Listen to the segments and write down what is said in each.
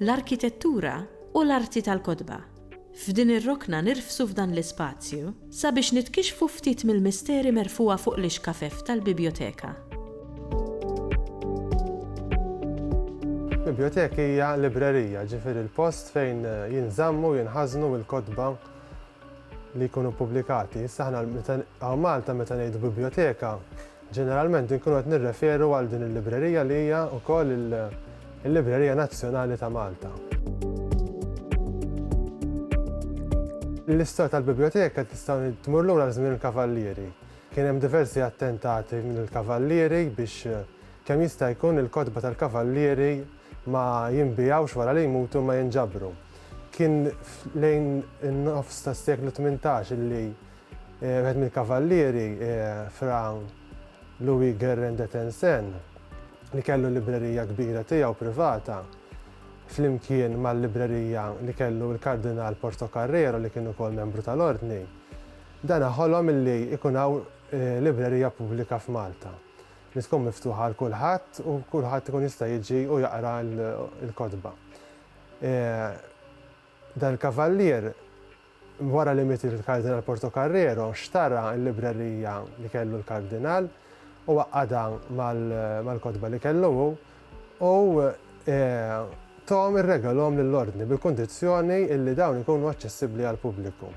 l-arkitettura u l-arti tal-kotba. F'din ir-rokna nirfsu f'dan l-ispazju sabiex nitkixxfu ftit mill-misteri merfugħa fuq l-ixkafef tal-bibjoteka. Bibjoteka hija librerija, ġifieri l-post fejn jinżammu u jinħażnu l-kotba li jkunu ppubblikati. Issa aħna meta hawn Malta meta ngħidu bibljoteka, ġeneralment inkunu qed nirreferu għal din il-librerija li hija wkoll il-librerija nazzjonali ta' Malta. L-istorja tal-bibljoteka tista' tmur lura żmien il-Kavallieri. Kien hemm diversi attentati mill-Kavallieri biex kemm jista' jkun il-kotba tal-Kavallieri ma jinbigħux wara li jmutu ma jinġabru. Kien lejn in-nofs tas-seklu tmintax li wieħed mill-kavallieri, Fra Louis Guérin de Tencin, li kellu l-librerija kbira tiegħu privata, flimkien mal-librerija li kellu l-Kardinal Portocarrero li kien ukoll membru tal-Ordni, dana ħolom li jkun hawn librerija pubblika f'Malta, li tkun miftuħa għal kulħadd u kulħadd ikun jista' jiġi u jaqra l-kotba. Dan il-kavallier, wara li miet il-Kardinal Portocarrero, xtara l-librerija li kellu l-Kardinal u għaqqadha mal-kotba li kellu hu u thom irregalhom lill-Ordni bil-kundizzjoni li dawn ikunu aċċessibbli għall-pubbliku.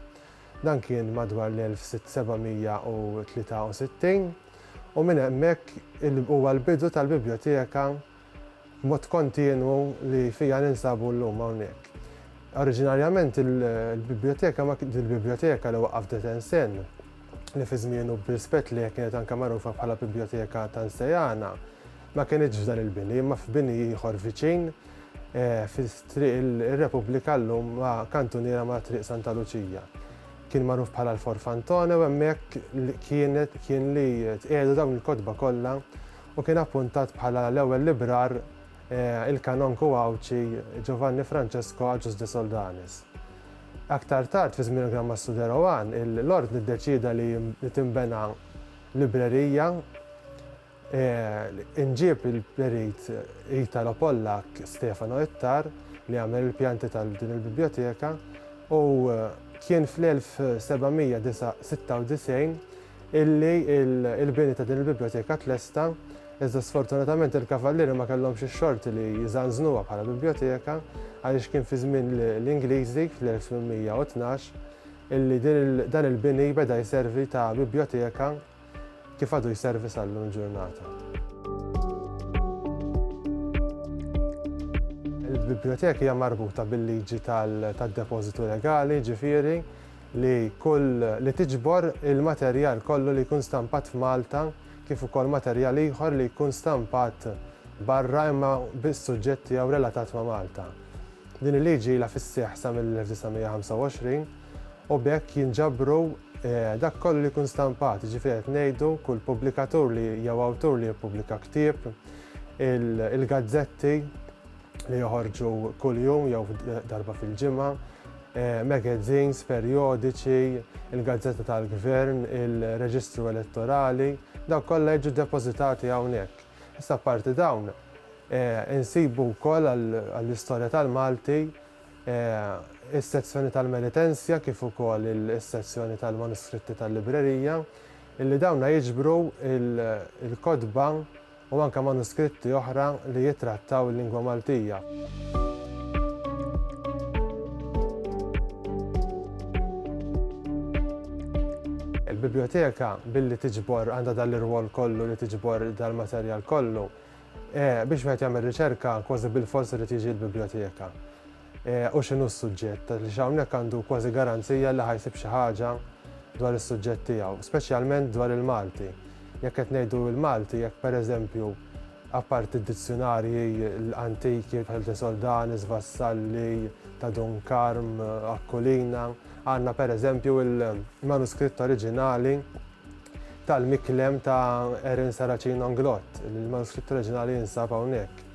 Dan kien madwar l-1763 u minn hemmhekk huwa l-bidu tal-Bibljoteka B'mod kontinwu li fija ninsabu llum hawnhekk. Oriġinarjament il-biblioteka ma dil-biblioteka li waqqaf De Tencin, li fi żmienu b'rispett lejha kienet anke magħrufa bħala Biblioteka Tanseyana, ma kinitx f'dan il-bini imma f'bini ieħor viċin fi Triq ir-Repubblika llum ma' kantuniera ma' Triq Santa Luċija. Kien magħruf bħala l-Forfantone u hemmhekk kien li tqiegħdu dawn il-kotba kollha u kien appuntat bħala l-ewwel librar il-Kanonku Għawdxi Giovanni Francesco Agius de Soldanis. Aktar tard fi żmien il-Gran Mastru de Rohan, l-Ordni ddeċieda li tinbena librerija, inġieb il-perit Italo-Pollakk Stefano Ittar li għamel il-pjanti ta' din il-bibljoteka u kien fl-1796 illi l-bini ta' din il-bibljoteka tlesta, iżda sfortunatament il-Kavallieri ma kellhomx ix-xorti li jżanżnuha bħala bibljoteka għaliex kien fi żmien l-Ingliżi, fl-1812, illi dan il-bini beda jservi ta' bibljoteka kif għadu jservi sal-lum il-ġurnata. Il-bibljoteka hija marbuta bil-liġi tad-depożitu legali, jiġifieri, li kull li tiġbor il-materjal kollu li jkun stampat f'Malta kif ukoll materjal ieħor li jkun stampat barra imma biss suġġett tiegħu relatat ma' Malta. Din il-liġi ilha fis-seħħ sa mill-1925 u b'hekk jinġabru dak kollu li jkun stampat, jiġifieri qed ngħidu kull pubblikatur li jew awtur li jippubblika ktieb, il-gazzetti, li joħorġu kuljum jew darba fil-ġimgħa, eh, magazines, perjodiċi, il-gazzetta tal-gvern, il-reġistru elettorali, daw kollha jiġu depożitati hawnhekk. Issa parti dawn eh, insibu wkoll għall-istorja tal-Malti eh, is-sezzjoni tal-Melitensja kif ukoll is-sezzjoni tal-manuskritti tal-librerija, illi dawna jiġbru il-kodba il u anke manuskritti oħra li jittrattaw il-lingwa Maltija. Il-bibljoteka billi tiġbor għandha dan l-irwol kollu li tiġbor dal-materjal kollu, e, biex wieħed jagħmel riċerka kważi bil-fors irid jiġi l-bibljoteka. u x'inhu s-suġġett, għaliex hawnhekk għandu kważi garanzija li ħa jsib xi ħaġa dwar is-suġġett tiegħu, speċjalment dwar il-Malti. Jekk qed ngħidu il-Malti, jekk pereżempju, apparti d-dizzjunarji antiki bħal De Soldanis, Vassalli, ta' Dun Karm, Aquilina, għandna pereżempju l-manuskritt oriġinali tal-Miklem ta' Erin Saracino Anglot, il-manuskritt oriġinali jinsab hawnhekk.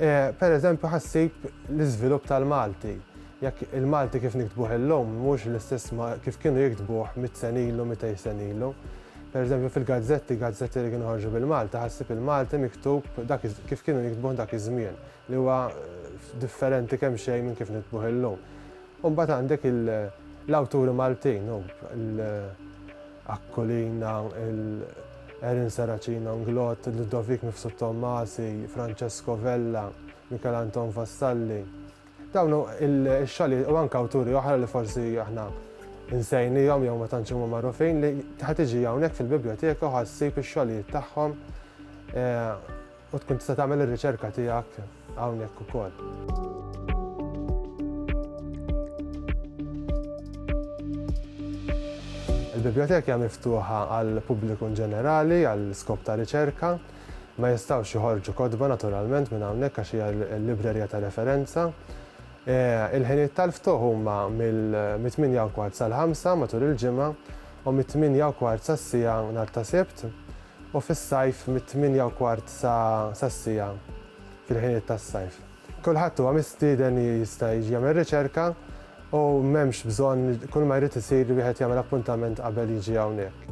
Eh, per eżempju, ħassib l-iżvilupp tal-Malti. Jekk il-Malti kif niktbuh illum mhux l-istess kif kienu jiktbuh mit senilu, mit senilu. Per eżempju, fil-gazzetti, gazzetti li kienu ħarġu bil-Malta, ħassib il-Malti miktub kif kienu jiktbuh dak iż-żmien, li huwa eh, differenti kemm xejn minn kif niktbuh illum. U mbagħad għandek l-awturi Maltin, l-Aquilina, l-Erin Saracino Inglott, Ludovic Mifsud Tommasi, Francesco Vella, Michael Anton Vassalli. Dawn ix-xali u anke awturi oħra li forsi aħna insejnihom jew ma tantx huma magħrufin li ħa tiġi hawnhekk fil-Bibljoteka u ħa ssib ix-xogħlijiet tagħhom eh, U tkun tista' tagħmel ir-riċerka tiegħek hawnhekk ukoll. Il-biblioteki hija miftuħa għal pubbliku ġenerali, għal skop ta' riċerka, ma jistgħux joħorġu kodba naturalment minn hawnhekk għax hija l-librerija ta' referenza. E, il-ħinijiet tal-ftuħ huma mill-8 kwart sal-5 matul il-ġimgħa u mit-8 kwart sas-sija nhar ta' Sibt. u fis-sajf mit-tmienja u kwart sa sas-siegħa fil-ħinijiet tas-sajf. Kulħadd huwa mistieden li jista' jiġi jagħmel riċerka u m'hemmx bżonn li kull ma jrid isir li wieħed jagħmel appuntament qabel jiġi hawnhekk.